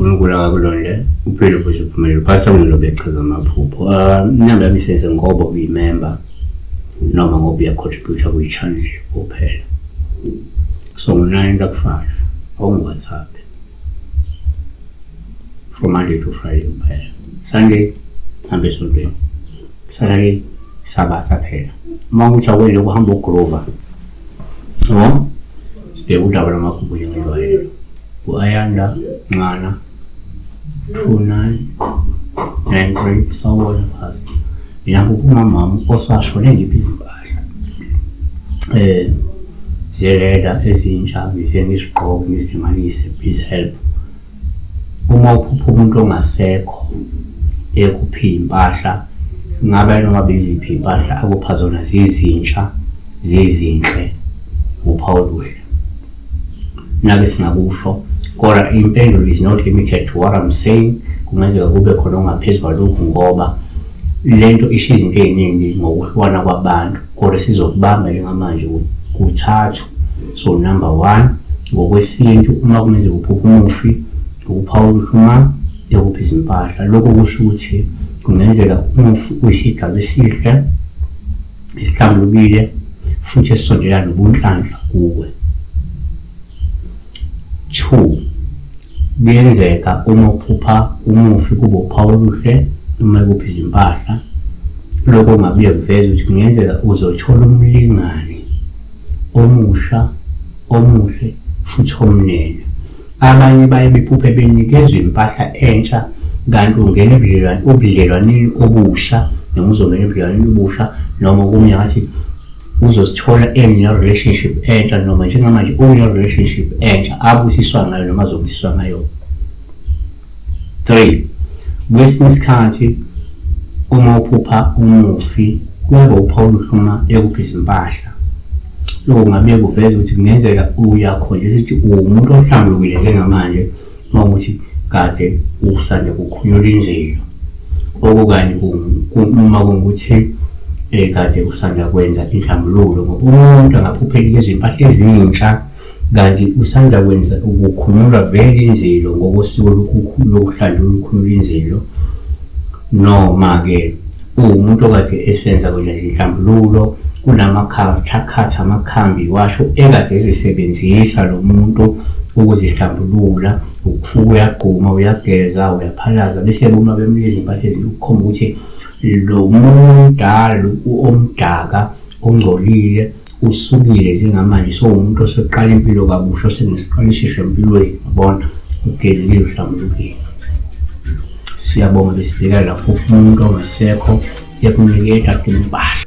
uNkulunkulu akakulondele uphile futhi uphumelele phasa umlilo bechaza amaphupho ah, inyanga yami isenze ngoba uyimember noma ngoba uyacontributa kwi-channel kuphela so ngo-nine lakufaka awungu-whatsapp from Monday to Friday kuphela Sunday hambe esontweni Saturday Sabatha phela uma ukuthi awele ukuhamba uGrover no sibheke udaba lwamakhumbu njengejwayelo u-ayanda nxana 2993 sawona phasi mina ngokumamama osashone ngiphi izimpahla eh ziyeleda ezintsha ngize ngizigqoke ngizihlanganise please help uma uphupha umuntu ongasekho ekuphi impahla ngabe noma beziphi impahla akupha zona zizintsha zizinhle uphawu luhle nake singakusho kodwa impendulo is not limited to what I'm saying kungenzeka kube khona ongaphezu kwalokhu ngoba le nto isho izinto ey'ningi ngokuhlukana kwabantu kodwa sizokubamba njengamanje kuthathu so number one ngokwesintu uma kungenzeka uphupha umufi ukuphawula uhluma yokuphi izimpahla lokho kusho ukuthi kungenzeka umufi uyisigaba esihle isihlambulukile futhi esisondela nobunhlanhla kuwe. 2 kuyenzeka uma uphupha umufi kube uphawu oluhle noma kuphi izimpahla lokho kungabuye kuveze ukuthi kungenzeka uzothola umlingani omusha omuhle futhi omnene Abanye baye bephuphe benikezwa impahla entsha kanti ungena ebudlelwaneni obusha noma uzongena ebudlelwaneni obusha noma okunye ngathi uzosithola enye relationship entsha noma njengamanje une relationship entsha abusiswa ngayo noma azobusiswa ngayo 3 kwesinye isikhathi uma uphupha umufi kuyaba uphawu oluhluma ekuphi izimpahla lokho kungabe kuveza ukuthi kungenzeka uyakhonjisa ukuthi uwumuntu ohlambulukile njengamanje uma ukuthi kade usande kukhunyula inzilo okukanye uma kungukuthi um eh, kade usanda kwenza inhlambululo ngoba umuntu angaphuphela izimpahla ezintsha kanti usanda kwenza ukukhululwa vele inzilo ngokosiko lokuhlanjwa olukhulula inzilo noma-ke uwumuntu okade esenza kwenza izinhlambululo kunamakhathakhatha amakhambi washo ekade ezisebenzisa lo muntu ukuzihlambulula ukufuka uyagquma uyageza uyaphalaza bese buma bemnika izimpahla ezinto ukukhomba ukuthi lo mdala omdaka ongcolile usukile njengamanje sowumuntu oseqala impilo kabusha osenesiqalishisho empilweni yabona ugezekile uhlambulukile siyabonga besibheka lapho umuntu ongasekho ekunike ekade impahla